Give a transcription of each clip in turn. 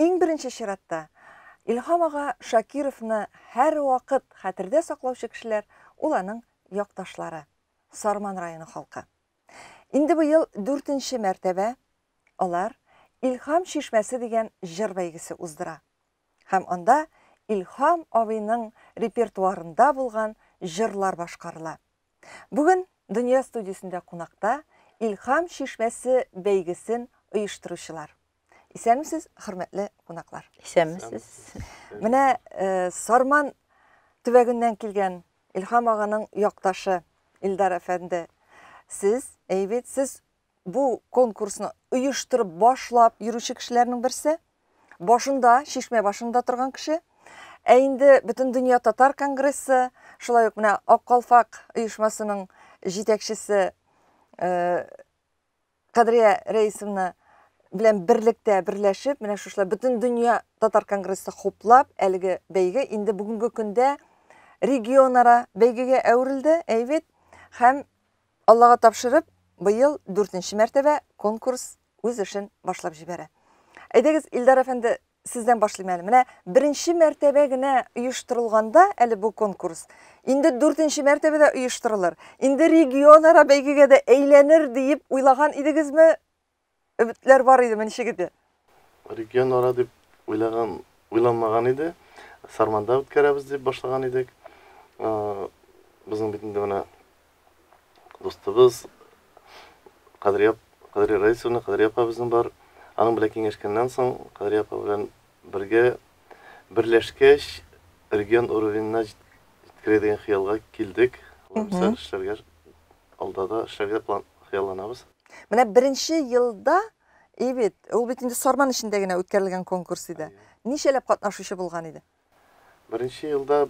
Иң беренче чиратта, Илһам ага Шакировны һәрвакыт хәтердә саклаучы кешеләр, ул аның якташлары, Сарман районы халкы. Инде быел дүртенче мәртәбә алар Илһам чишмәсе дигән җыр бәйгесе уздыра. Һәм анда Илһам абыйның репертуарында булган җырлар башкарыла. Бүген Дөнья студиясендә кунакта Илһам чишмәсе бәйгесен оештыручылар. Исәнмесез, хөрмәтле кунаклар. Исәнмесез. Менә э, Сарман төбәгеннән килгән Илхам аганың якташы Илдар әфәнде. Сез, әйбит, сез бу конкурсны оештырып башлап йөрүче кешеләрнең берсе. Башында, шишмә башында торган кеше. Ә инде бөтен дөнья татар конгрессы, шулай ук менә Ак калфак оешмасының җитәкчесе э, Кадрия Рәисовна белән берлектә берләшеп, менә шушылай бөтен дөнья татар конгрессы хуплап, әлеге бәйге инде бүгенге көндә регионара бәйгегә әверелде, әйбит. Һәм Аллага тапшырып, быел дүртенче мәртәбә конкурс үз эшен башлап җибәрә. Әйдәгез, Илдар әфәнде, Сездән башлыйм әле. Менә беренче мәртәбә генә оештырылганда әле бу конкурс, инде дүртенче мәртәбәдә оештырылыр, инде регионара бәйгегә дә әйләнер диеп уйлаган идегезме? Өметләр бар идеме, ничек иде? Регионара дип уйлаган, уйламаган иде. Сарманда үткәрәбез дип башлаган идек. Безнең бит инде менә дустыбыз Кадрия ап, Кадрия Раисовна, Кадрия апа безнең бар. Аның белән киңәшкәннән соң, Кадрия апа белән бергә берләшкәч, регион уровенена җит- җиткерә дигән хыялга килдек. Лаеклы эшләргә, алда да эшләргә план, хыялланабыз. Менә беренче елда и бит, ул бит инде Сарман эчендә генә үткәрелгән конкурс иде. Әйе. Ничәләп катнашучы булган иде? Беренче елда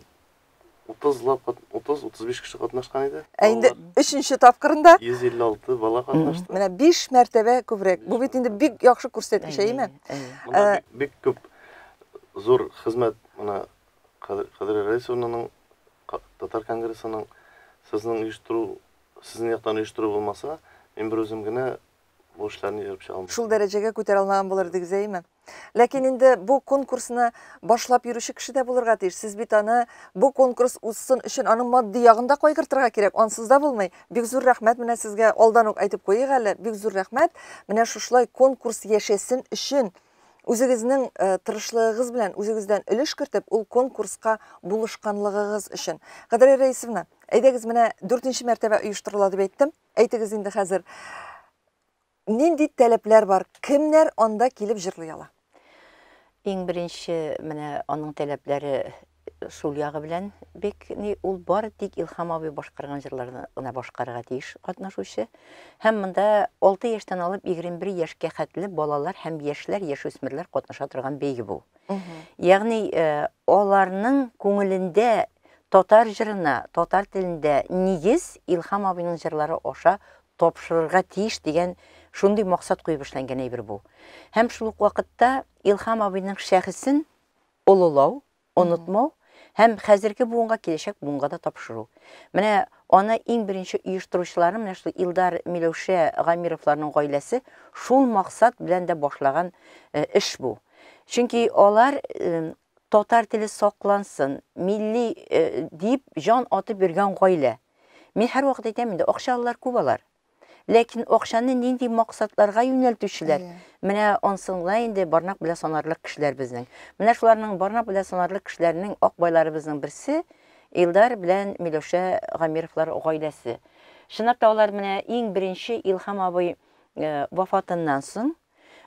30 лап, 30-35 кеше катнашкан иде. Ә инде өченче тапкырында 156 бала катнашты. Менә 5 мәртәбә күбрәк. Бу бит инде бик яхшы күрсәткеч, әйеме? Ә, бик күп зур хезмәт менә Кадри Рәисовнаның татар конгрессының сезнең оештыру, сезнең яктан оештыру булмаса, мин бер үзем генә Бу эшләрне җыеп чыга алмый. Шул дәрәҗәгә күтәрә алмаган булыр дигез, әйеме? Ләкин инде бу конкурсны башлап йөрүче кеше дә булырга тиеш. Сез бит аны бу конкурс узсын өчен аның матди ягын да кайгыртырга кирәк. Ансыз да булмый. Бик зур рәхмәт менә сезгә. Алдан ук әйтеп куйыйк әле, бик зур рәхмәт. Менә шушылай конкурс яшәсен өчен үзегезнең э, тырышлыгыгыз белән үзегездән өлеш кертеп, ул конкурска булышканлыгыгыз өчен. Кадриә Рәисовна, әйдәгез менә дүртенче мәртәбә оештырыла дип әйттем. Әйтегез инде хәзер, нинди таләпләр бар, кемнәр анда килеп җырлый ала? Иң беренче менә аның таләпләре шул ягы белән бик ни ул бары тик Илхам абый башкарган җырларны гына башкарырга тиеш катнашучы. Һәм монда 6 яшьтән алып 21 яшькә хәтле балалар һәм яшьләр, яшүсмерләр катнаша торган бәйге бу. Ягъни аларның күңелендә татар җырына, татар телендә нигез Илхам абыйның җырлары аша тапшырырга тиеш дигән шундый максат куеп эшләнгән әйбер бу. Һәм шул ук вакытта Илхам абыйның шәхесен олылау, онытмау һәм хәзерге буынга, киләчәк буынга да тапшыру. Менә аны иң беренче оештыручылары менә шул Илдар Миләүшә Гамировларның гаиләсе шул максат белән дә башлаган э, эш бу. Чөнки алар э, татар теле саклансын, милли э, дип җан атып йөргән гаилә. Мин һәрвакыт әйтәм инде, акчалылар күп алар. Ләкин акчаны нинди максатларга юнәлтүчеләр? Менә ансын гына инде барнак белән санарлык кешеләр безнең. Менә шуларның барнак белән санарлык кешеләренең ак байларыбызның берсе Илдар белән Миләүшә Гамировлар гаиләсе. Чынлап та алар менә иң беренче Илһам абый э, вафатыннан соң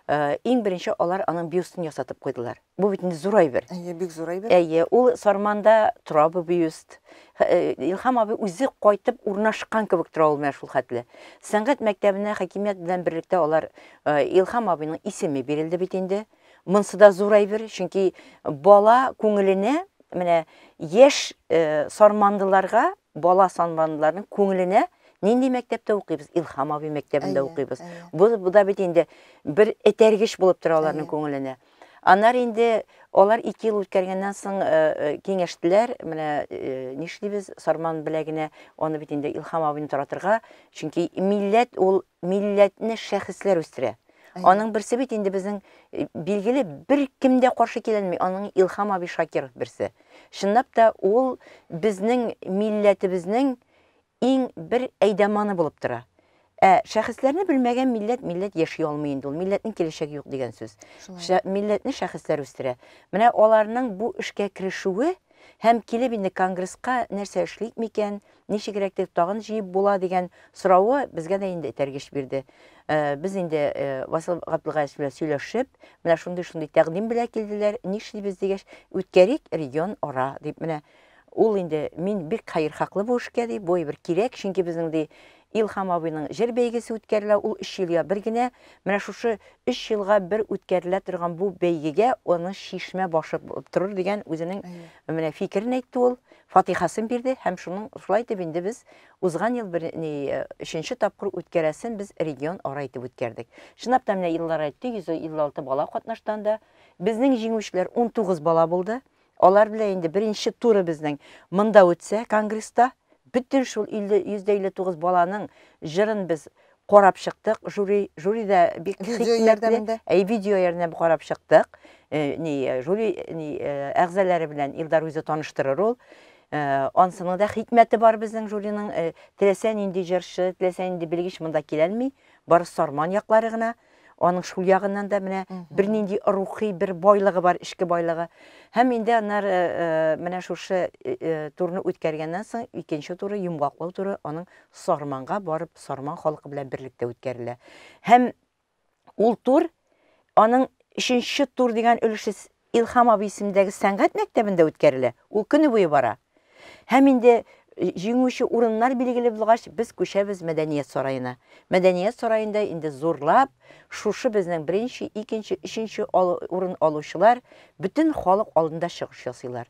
Э, иң беренче алар аның бюстын ясатып куйдылар. Бу бит инде зур әйбер. Әйе, бик зур әйбер. Әйе, ул Сарманда тора бу бюст. Э, Илхам абый үзе кайтып урнашкан кебек тора ул менә шул хәтле. Сәнгать мәктәбенә хакимият белән берлектә алар э, Илхам абыйның исеме бирелде бит инде. Монсы да зур әйбер, чөнки бала күңеленә менә яшь сармандыларга Бала санланларның күңеленә нинди мәктәптә укыйбыз? Илхам абый мәктәбендә укыйбыз. Бу да бит инде бер этәргеч булып тора аларның күңеленә. Аннары инде алар ике ел үткәргәннән соң э, э, киңәштеләр, менә э, нишлибез, Сарман беләгенә аны бит инде Илхам абыйны таратырга, чөнки милләт ул милләтне шәхесләр үстерә. Әйе. Аның берсе бит инде безнең э, билгеле бер кем дә каршы килә алмый. Аның Илхам абый Шакиров берсе. Чынлап та ул безнең милләтебезнең иң бер әйдәманы булып тора. Ә шәхесләрне белмәгән милләт милләт яши алмый инде ул. Милләтнең киләчәге юк дигән сүз. Шулай. Шә, милләтне шәхесләр үстерә. Менә аларның бу эшкә керешүе һәм килеп инде конгресска нәрсә эшлик микән, ничегрәк итеп тагын җыеп була дигән соравы безгә дә инде этәргеч бирде. Э, без инде э, Васил Габдулгаевич белән сөйләшеп, менә шундый-шундый тәкъдим белән килделәр, нишлибез дигәч, үткәрик регион ара дип менә ул инде мин бик хәер хаклы бу эшкә ди, бу бер кирәк, чөнки безнең ди Илхам абыйның җыр бәйгесе үткәрелә, ул 3 елга бер генә. Менә шушы 3 елга бер үткәрелә торган бу бәйгегә аны шишмә башы булып торыр дигән үзенең менә фикерен әйтте ул. фатихасын бирде һәм шуның шулай итеп инде без узган ел бер ни өченче тапкыр үткәрәсен без регион ара итеп үткәрдек. Чынлап та менә еллар әйтте, 156 бала катнашты анда. Безнең җиңүчеләр 19 бала булды. Алар белән инде беренче туры безнең монда үтсә, конгресста, бөтен шул 50 159 баланың җырын без карап чыктык жюри жюри да бик хикмәтле әй видео ярдәмендә карап чыктык э, ни э, жюри э, ни әгъзалары белән Илдар үзе таныштырыр ул ансының да хикмәте бар безнең жюриның теләсә нинди җырчы теләсә нинди белгеч монда киләлми бары сарман яклары гына Аның шул ягыннан да менә бернинди рухи бер байлыгы бар, эчке байлыгы. Һәм инде аннары э, э, менә шушы э, турны үткәргәннән соң икенче туры йомгаклау туры аның Сарманга барып, Сарман халкы белән берлектә үткәрелә. Һәм ул тур аның өченче тур дигән өлеше Илһам абый исемендәге сәнгать мәктәбендә үткәрелә, ул көне буе бара. Һәм инде җиңүче урыннар билгеле булгач, без күчәбез Мәдәният сараена. Мәдәният сараенда инде зурлап шушы безнең беренче, икенче, өченче урын алучылар бөтен халык алдында чыгыш ясыйлар.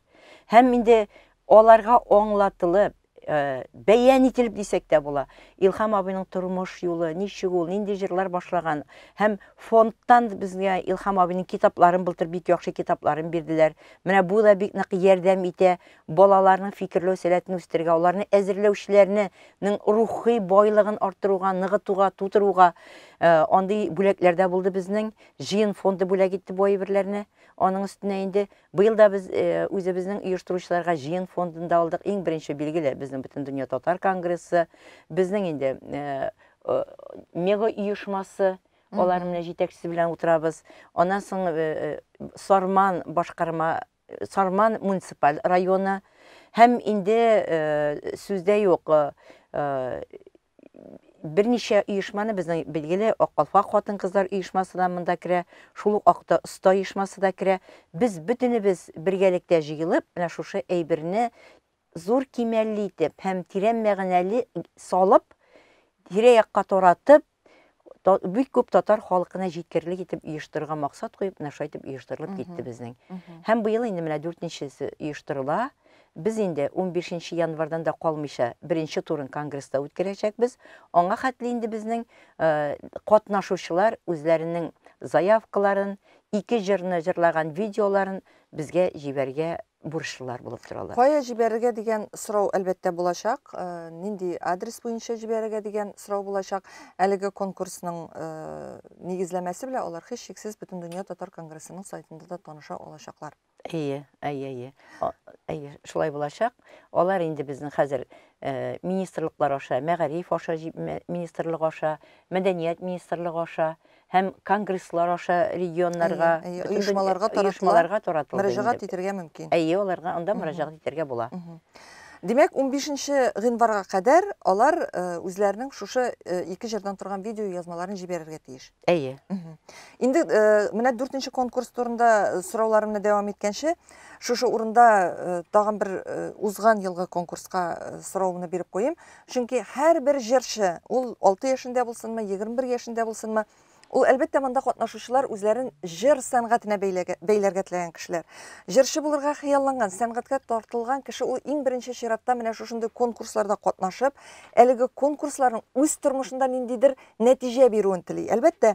Һәм инде аларга аңлатылып, Э, бәян ителеп дисәк тә була. Илхам абыйның тормыш юлы, ничек ул, нинди җырлар башлаган һәм фондтан безгә Илхам абыйның китапларын былтыр бик яхшы китапларын бирделәр. Менә бу да бик нык ярдәм итә балаларның фикерләү сәләтен үстергә, аларны әзерләүчеләрнең рухи байлыгын арттыруга, ныгытуга, тутыруга э, андый бүләкләрдә булды безнең. Җыен фонды бүләк итте бу әйберләрне. Аның өстенә инде Быел да без үзебезнең оештыручыларга җыен фондын да алдык. Иң беренче, билгеле, безнең Бөтендөнья татар конгрессы, безнең инде мега оешмасы, алар менә җитәкчесе белән утырабыз. Аннан соң Сарман башкарма, Сарман муниципаль районы һәм инде сүздә юк, берничә оешманы безнең билгеле Ак калфак хатын-кызлар оешмасы да монда керә, шул ук Акта оста оешмасы да керә. Без бөтенебез бергәлектә җыелып, менә шушы әйберне зур кимәлле итеп һәм тирән мәгънәле салып, тирә-якка таратып, бик күп татар халкына җиткерлек итеп оештырырга максат куеп, менә шулай итеп оештырылып китте безнең. Һәм быел инде менә дүртенчесе оештырыла. Без инде 15 январдан да калмыйча беренче турын конгресста үткәрәчәкбез. Аңа хәтле инде безнең э, катнашучылар үзләренең заявкаларын, ике җырны җырлаган видеоларын безгә җибәргә бурычлылар булып торалар. Кая җибәрергә дигән сорау, әлбәттә, булачак. Нинди адрес буенча җибәрергә дигән сорау булачак. Әлеге конкурсның нигезләмәсе белән алар һичшиксез Бөтендөнья татар конгрессының сайтында да таныша алачаклар. Әйе, әйе, әйе. Әйе, шулай булачак. Алар инде безнең хәзер э, министрлыклар аша, мәгариф аша, министрлык аша, мәдәният министрлыгы аша, һәм конгресслар аша регионнарга, әйе, бөтен оешмаларга дөнья- таратыла. оешмаларга таратылды. Мөрәҗәгать инде. итәргә мөмкин. Әйе, аларга анда мөрәҗәгать итәргә була. Димәк, 15 гыйнварга кадәр алар э, үзләренең шушы э, ике җырдан торган видео язмаларын җибәрергә тиеш. Әйе. Мгм. Инде э, менә дүртенче конкурс турында э, сорауларымны дәвам иткәнче, шушы урында э, тагын бер э, узган елгы конкурска э, соравымны биреп куйыйм. Чөнки һәрбер җырчы, ул алты яшендә булсынмы, егерме бер яшендә булсынмы, ул, әлбәттә, монда катнашучылар үзләрен җыр сәнгатенә бәйләгә, бәйләргә теләгән кешеләр. Җырчы булырга хыялланган, сәнгатькә тартылган кеше ул иң беренче чиратта менә шушындый конкурсларда катнашып, әлеге конкурсларның үз тормышында ниндидер нәтиҗә бирүен тели. Әлбәттә,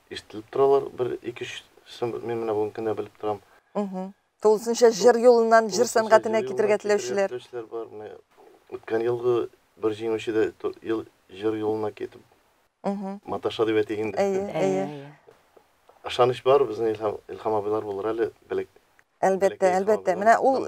ишетелеп торалар, бер ике өч сын мин менә бүген кенә белеп торам. Тулысынча җыр юлыннан җыр сәнгатенә китергә теләүчеләр. Үткән елгы бер җиңүче дә ел җыр юлына китеп маташа дип әйтик инде. Әйе, әйе. Ышаныч бар, безнең Илһам абыйлар булыр әле, белек Әлбәттә, әлбәттә. Менә ул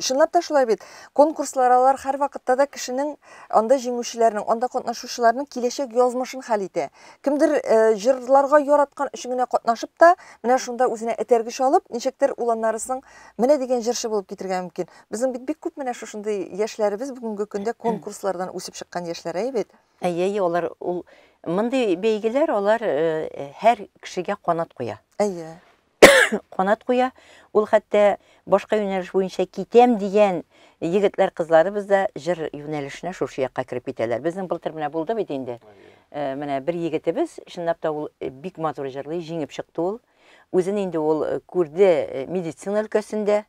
чынлап та шулай бит. Конкурслар алар һәрвакытта да кешенең анда җиңүчеләрнең, анда катнашучыларның киләчәк язмышын хәл итә. Кемдер җырларга яраткан өчен генә катнашып та, менә шунда үзенә этәргеч алып, ничектер ул аннары соң менә дигән җырчы булып китергә мөмкин. Безнең бит бик күп менә шушындый яшьләребез бүгенге көндә конкурслардан үсеп чыккан яшьләр, әйе бит? Әйе, әйе, алар ул мондый бәйгеләр алар һәр кешегә канат куя. Әйе. канат куя. Ул хәтта башка юнәлеш буенча китәм дигән егетләр, кызларыбыз да җыр юнәлешенә шушы якка кереп китәләр. Безнең былтыр менә булды бит инде. Э, менә бер егетебез, чынлап та ул э, бик матур җырлый, җиңеп чыкты ул. Үзен инде ул э, күрде медицина өлкәсендә.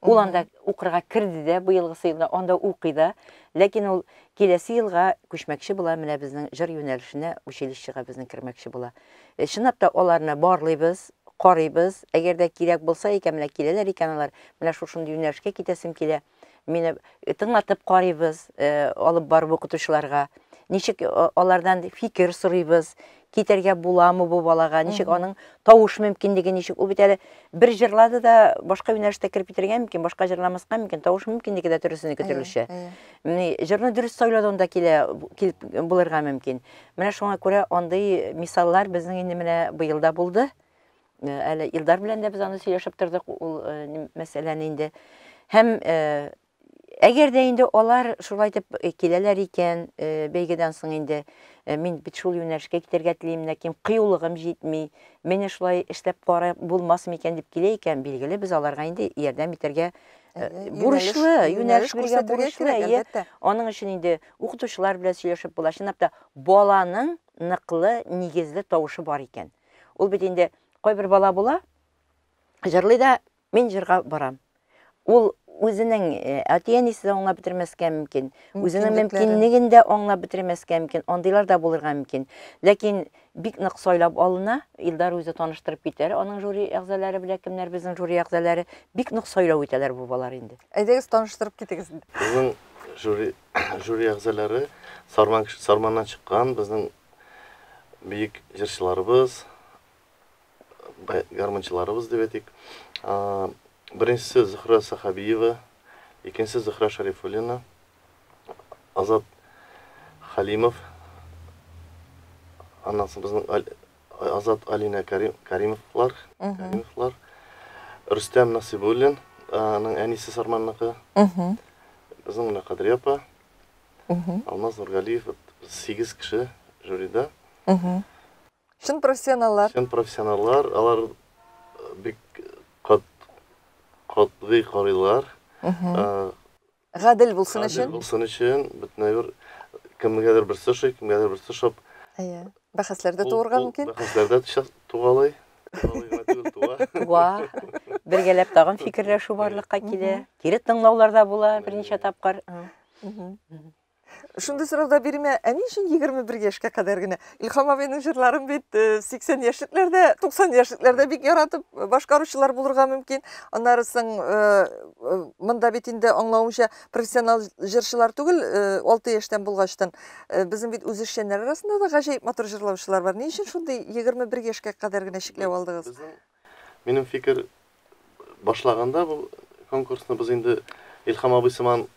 Ул анда укырга керде дә быелгысы елда, анда укый да. Ләкин ул киләсе елга күчмәкче була, менә безнең җыр юнәлешенә, училищега безнең кермәкче була. Э, чынлап та аларны барлыйбыз, карыйбыз. Әгәр дә кирәк булса икән, менә киләләр икән алар, менә шушындый юнәлешкә китәсем килә. Мине э, тыңлатып карыйбыз, э, алып барып укытучыларга. Ничек алардан фикер сорыйбыз, китәргә буламы бу балага, ничек аның тавыш мөмкинлеге ничек? Ул бит әле бер җырлады да башка юнәлештә кереп китергә мөмкин, башка җырламаска мөмкин, тавыш мөмкинлеге дә төрлесенеке төрлечә. Менә җырны дөрес сайладың да килә килеп булырга мөмкин. Менә шуңа күрә андый мисаллар безнең инде менә быел да булды. Э, әле Илдар белән дә без аны сөйләшеп тордык, ул э, мәсьәләне инде. Һәм э, Әгәр дә инде алар шулай итеп киләләр икән, бәйгедән соң инде мин бит шул юнәлешкә китәргә телим, ләкин кыюлыгым җитми, менә шулай эшләп карап булмас микән дип килә икән, билгеле, без аларга инде ярдәм итәргә бурычлы, юнәлеш күрсәтергә бурычлы. Әлбәттә. Аның өчен инде укытучылар белән сөйләшеп була. Чынлап та, баланың ныклы, нигезле тавышы бар икән. Ул бит инде кайбер бала була, җырлый да, Мин җырга барам. Ул үзенең э, әти-әнисе дә аңлап бетермәскә мөмкин, үзенең мөмкинлеген дә аңлап бетермәскә мөмкин, андыйлар да булырга мөмкин. Ләкин бик нык сайлап алына, Илдар үзе таныштырып китәр, аның жюри әгъзалары белән кемнәр безнең жюри әгъзалары, бик нык сайлау итәләр бу балалар инде. Әйдәгез, таныштырып китегез. Безнең жюри, жюри әгъзалары Сарман, Сарманнан чыккан безнең бөек җырчыларыбыз, гармунчыларыбыз дип әйтик. Беренчесе Зөхрә Сахабиева, икенчесе Зөхрә Шарифуллина, Азат Халимов, аннан соң безнең Азат Алина Каримовлар, Каримовлар, Рөстәм Насибуллин, аның әнисе Сарманныкы, безнең менә Кадри апа, Алмаз Нургалиев, сигез кеше жюрида. Чын профессионаллар. Чын профессионаллар, алар бик кат, катгый карыйлар. Гадел булсын өчен. Гадел булсын өчен, бөтенләй бер кемгәдер берсе ошый, кемгәдер берсе шап. Әйе. Бәхәсләр дә туырга мөмкин. Бәхәсләр дә тугалый. Туа. Бергәләп тагын фикерләшү барлыкка килә. Кире тыңлаулар да була берничә тапкыр. Шундый сорау да бирмә, ә ни өчен 21 яшькә кадәр генә? Илхам абыйның җырларын бит 80 э, яшьлекләрдә, 90 яшьлекләрдә бик яратып э, башкаручылар булырга мөмкин. Аннары соң э, монда бит инде аңлавымча профессионал җырчылар түгел, 6 яшьтән булгачтан безнең бит үзешчәннәр арасында да гаҗәеп матур җырлаучылар бар. Ни өчен шундый 21 яшькә кадәр генә чикләп алдыгыз? Безнең Минем фикер, башлаганда бу конкурсны без инде Илһам абый сыман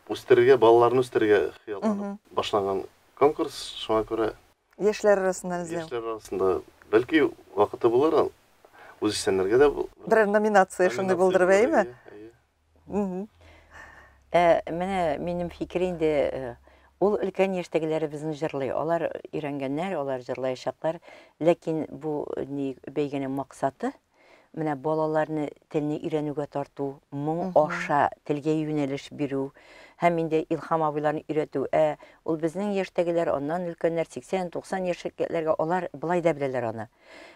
үстерергә, балаларны үстерергә хыялланып башланган конкурс, шуңа күрә Яшьләр арасыннан эзләү. Яшьләр арасында, бәлки, вакыты булыр, үзешчәннәргә дә бу. Берәр номинация шундый булдырып, әйеме? Әйе, әйе. Ә менә минем фикер инде э, ул өлкән яшьтәгеләребезне җырлый. Алар өйрәнгәннәр, алар җырлаячаклар. Ләкин бу э, ни бәйгенең максаты менә балаларны телне өйрәнүгә тарту, моң аша телгә юнәлеш бирү һәм инде Илһам абыйларны өйрәтү. Ә ул безнең яшьтәгеләр, аннан өлкәннәр 80-90 яшьлекләргә алар былай да беләләр аны.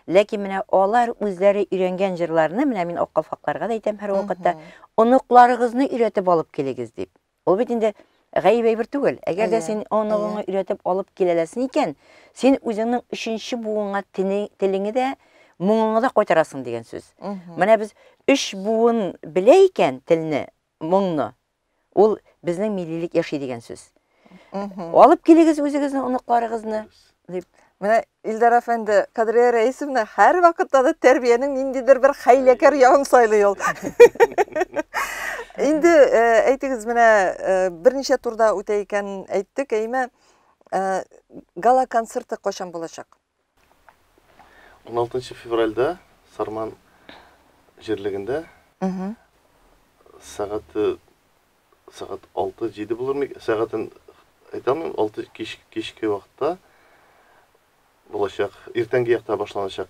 Ләкин менә алар үзләре өйрәнгән җырларны, менә мин ак калфакларга да әйтәм һәрвакытта, оныкларыгызны өйрәтеп алып килегез дип. Ул бит инде гаип әйбер түгел. Әгәр дә син оныгыңны өйрәтеп алып киләләсен икән, син үзеңнең өченче буынга телеңе дә, моңыңны да кайтарасың дигән сүз. Менә без өч буын белә икән телне, моңны. Ул безнең миллилек яши дигән сүз. Алып килегез үзегезне, оныкларыгызны, дип. Менә Илдар әфәнде, Кадрия Рәисовна һәр вакытта да тәрбиянең ниндидер бер хәйләкәр ягын сайлый ул. Инде э, әйтегез, менә э, берничә турда үтә икән әйттек, әйме, э, гала концерты кайчан булачак? 16 февральдә Сарман җирлегендә сәгате сәгать 6-7 булырмы? Сәгатен әйтәмен, 6 кич, кичке вакытта булачак. Иртәнге якта башланачак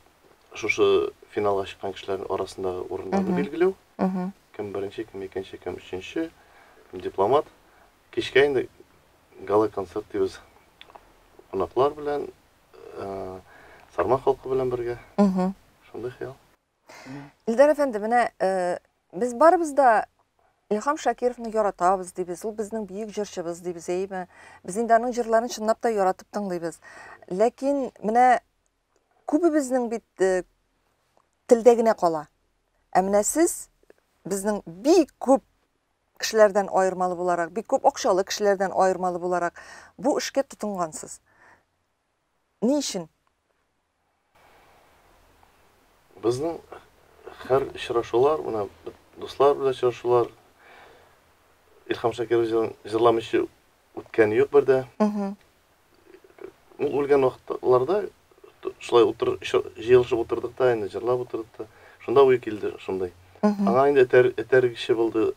шушы финалга чыккан кешеләрнең арасындагы урыннарны билгеләү. Кем беренче, кем икенче, кем өченче, кем дипломат. Кичкә инде гала-концерт дибез. Кунаклар белән, Сарман халкы белән бергә. Шундый хыял. Илдар әфәнде, менә без барыбыз да Илхам Шакировны яратабыз дибез. Ул безнең бөек җырчыбыз дибез, әйеме? Без инде аның җырларын чынлап та яратып тыңлыйбыз. Ләкин менә күбебезнең бит телдә генә кала. Ә менә сез безнең бик күп кешеләрдән аермалы буларак, бик күп акчалы кешеләрдән аермалы буларак бу эшкә тотынгансыз. Ни өчен? Безнең һәр очрашулар, менә дуслар белән очрашулар, Илһам Шакирович җырламыйча үткәне юк бер дә. Ул үлгән вакытларда шулай утыр җыелышып утырдык та, инде җырлап утырдык та. Шунда уй килде шундай. Аңа инде этәр, этәр кеше булды.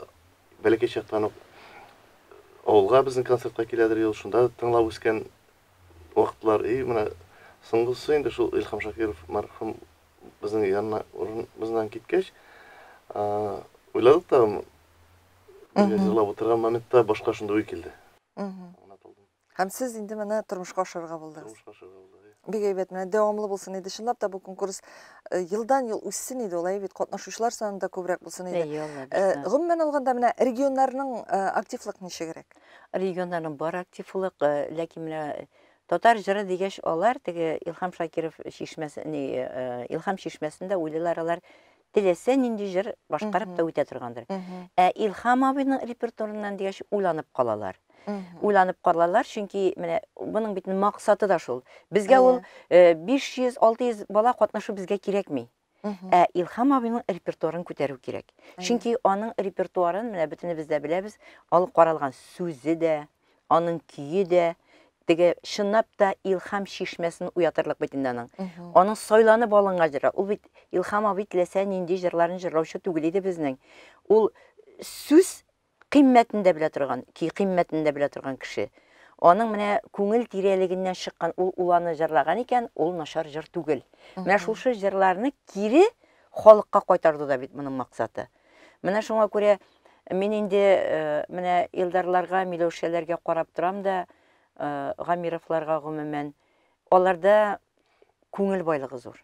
Бәләкәй чактан ук авылга безнең концертка киләдер ел, шунда тыңлап үскән вакытлар. И, менә соңгысы инде шул Илхам Шакиров мәрхүм безнең янына урын, безнен киткәч, уйладык та Мин җырлап утырган моментта башка шундый уй килде. Һәм сез инде менә тормышка ашырырга булдыгыз. Тормышка ашырырга булдыгыз. Бик әйбәт, менә дәвамлы булсын иде. Чынлап та бу конкурс э, елдан-ел үссен иде ул, әйбәт, катнашучылар саны да күбрәк булсын иде. Әйе, алла э, бирсә. Гомумән алганда, менә регионнарның э, активлык ничегрәк? Регионнарның бар активлык, ләкин менә татар җыры дигәч, алар теге Илхам Шакиров чишмәсе, Илхам чишмәсендә уйлыйлар алар теләсә нинди җыр башкарып та үтә торгандыр. Ә Илһам абыйның репертуарыннан дигәч, уйланып калалар. Уйланып калалар, чөнки менә моның бит максаты да шул. Безгә ул 500-600 э, бала катнашу безгә кирәкми. Ә Илһам абыйның репертуарын күтәрү кирәк. Чөнки аның репертуарын менә бөтенебез дә беләбез, алып каралган сүзе дә, Аның көе дә, теге чынлап та илхам чишмәсен уятырлык бит инде аның. Аның сайланып алынган җыры. Ул бит Илхам абый теләсә нинди җырларын җырлаучы түгел иде безнең. Ул сүз кыйммәтен дә белә торган, көй кыйммәтен дә белә торган кеше. Аның менә күңел тирәлегеннән чыккан ул уланы җырлаган икән, ул начар җыр түгел. Менә шушы җырларны кире халыкка кайтарду да бит моның максаты. Менә шуңа күрә мин инде менә Илдарларга, Миләүшәләргә карап торам да, Гамировларга гомумән, аларда күңел байлыгы зур.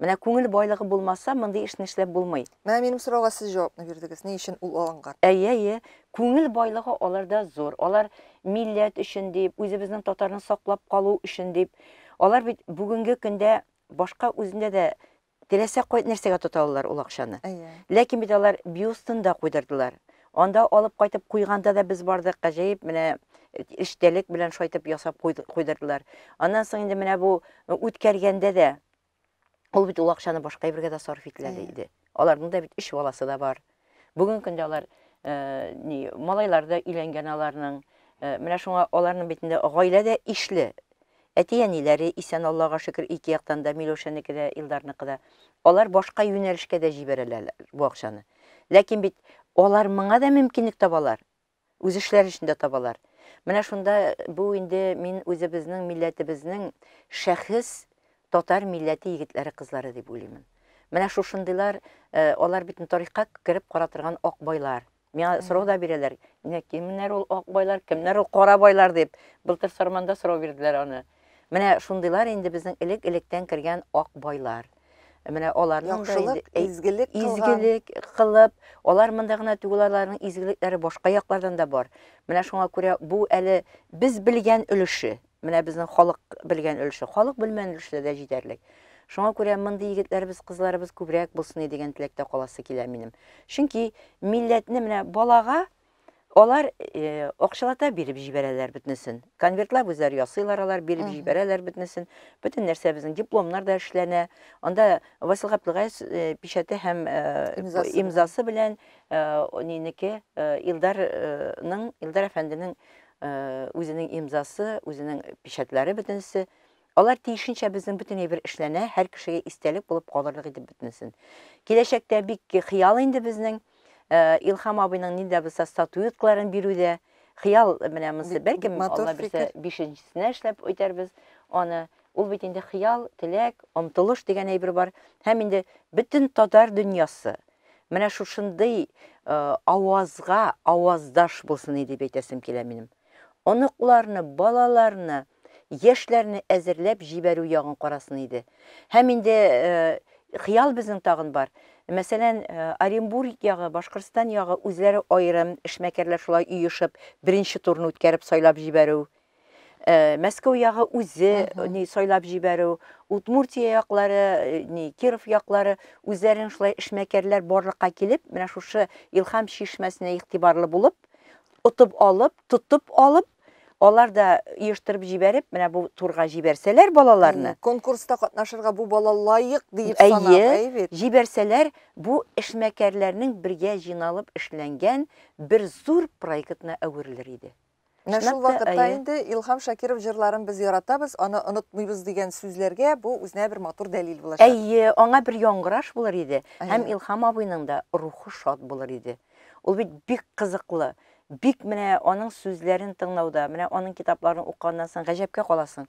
Менә күңел байлыгы булмаса, мондый эшне эшләп булмый. Менә минем сорауга сез җавапны бирдегез, ни өчен ул алынган? Әйе, әйе, күңел байлыгы аларда зур. Алар милләт өчен дип, үзебезнең татарны саклап калу өчен дип. Алар бит бүгенге көндә башка үзендә дә Теләсә кайт нәрсәгә тота алалар ул акчаны. Әйе. Ләкин бит алар бюстында куйдырдылар. Анда алып кайтып куйганда да без бардык, гаҗәеп менә эчтәлек белән шайтып ясап куйдырдылар. Аннан соң инде менә бу үткәргәндә дә ул бит ул акчаны башка әйбергә дә сарыф ителә иде. Аларның да бит өч баласы да бар. Бүгенге көндә алар ни, малайлар да өйләнгән аларның. Менә шуңа аларның битендә гаилә дә ишле. Әти-әниләре исән, Аллага шөкер, ике яктан да, Миләүшәнеке дә, Илдарныкы да. Алар башка юнәлешкә дә җибәрәләр бу акчаны. Ләкин бит алар моңа да мөмкинлек табалар. үз эшләре өчен дә табалар. Менә шунда бу инде мин үзебезнең милләтебезнең шәхес татар милләте егетләре кызлары дип уйлыймын. Менә шушындыйлар, э, алар бит тарихка кереп кара торган ак байлар. Миңа сорау да бирәләр, менә кемнәр ул ак байлар, кемнәр ул кара байлар дип. Былтыр Сарманда сорау бирделәр аны. Менә шундыйлар инде безнең элек-электән кергән ак байлар. Менә аларның яхшылык, изгелек кылган. Изгелек кылып, алар монда гына түгел, аларның изгелекләре башка яклардан да бар. Менә шуңа күрә бу әле без белгән өлеше, менә безнең халык белгән өлеше, халык белмән өлеше дә җитәрлек. Шуңа күрә мондый егетләребез, кызларыбыз күбрәк булсын дигән теләктә каласы килә минем. Чөнки милләтне менә балага Алар э, акчалата биреп җибәрәләр бөтенесен. Конвертлап үзләре ясыйлар алар, биреп Мгм. җибәрәләр бөтенесен. Бөтен нәрсә безнең дипломнар да эшләнә. Анда Васил Габдулгаев э, печәте һәм э, Имзасы белән. имзасы белән э, нинеке э, Илдарның Илдар әфәнденең э, үзенең имзасы, үзенең печәтләре бөтенесе Алар тиешенчә безнең бөтен әйбер эшләнә, һәр кешегә истәлек булып калырлык итеп бөтенесен. Киләчәктә бик хыял инде безнең э, Илхам абыйның нидә булса статуэткаларын бирүдә. Хыял менә монысы, бәлки Алла бирсә бишенчесенә эшләп үтәрбез аны. Ул бит инде хыял, теләк, омтылыш дигән әйбер бар. Һәм инде бөтен татар дөньясы менә шушындый э, авазга аваздаш булсын дип әйтәсем килә минем. Оныкларны, балаларны яшьләрне әзерләп җибәрү ягын карасын иде. Һәм инде хыял безнең тагын бар. Мәсәлән, Оренбург ягы, Башкортстан ягы үзләре аерым, эшмәкәрләр шулай оешып, беренче турны үткәреп сайлап җибәрү. Э, Мәскәү ягы үзе ни сайлап җибәрү, Удмуртия яклары, э, ни Киров яклары үзләрен шулай эшмәкәрләр барлыкка килеп, менә шушы Илхам чишмәсенә игътибарлы булып, отып алып, тотып алып, алар да оештырып җибәреп, менә бу турга җибәрсәләр балаларны. Конкурста катнашырга бу бала лаек диеп санап, әйе бит. Җибәрсәләр, бу эшмәкәрләрнең бергә җыйналып эшләнгән бер зур проектына әверелер иде. Менә шул вакытта инде Илһам Шакиров җырларын без яратабыз, аны онытмыйбыз дигән сүзләргә бу үзенә бер матур дәлил булачак. Әйе, аңа бер яңгыраш булыр иде һәм Илһам абыйның да рухы шат булыр иде. Ул бит бик кызыклы, бик менә аның сүзләрен тыңлауда, менә аның китапларын укыганнан соң гаҗәпкә каласың.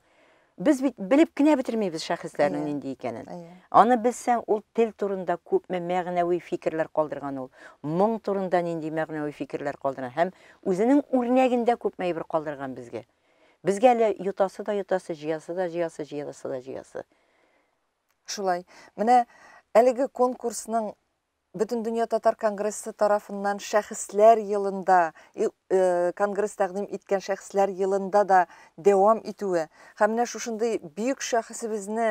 Без бит белеп кенә бетермибез шәхесләрнең нинди икәнен. Аны белсәң, ул тел турында күпме мәгънәви фикерләр калдырган ул, моң турында нинди мәгънәви фикерләр калдырган һәм үзенең үрнәгендә күпме әйбер калдырган безгә. Безгә әле йотасы да йотасы, җыясы да җыясы, җыеласы да җыясы. Шулай. Менә әлеге конкурсның Бөтендөнья татар конгрессы тарафыннан шәхесләр елында, конгресс тәкъдим иткән шәхесләр елында да дәвам итүе һәм менә шушындый бөек шәхесебезне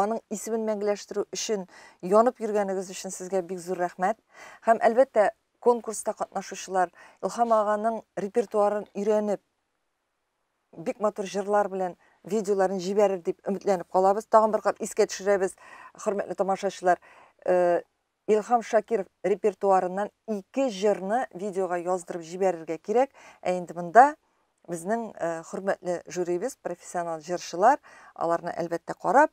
аның исемен мәңгеләштерү өчен янып йөргәнегез өчен сезгә бик зур рәхмәт. Һәм әлбәттә, конкурста катнашучылар Илһам аганың репертуарын өйрәнеп, бик матур җырлар белән видеоларын җибәрер дип өметләнеп калабыз. Тагын бер кат искә төшерәбез, хөрмәтле тамашачылар. Э, Илхам Шакиров репертуарыннан ике җырны видеога яздырып җибәрергә кирәк. Ә инде монда безнең э, хөрмәтле жюрибез, профессионал җырчылар, аларны әлбәттә карап,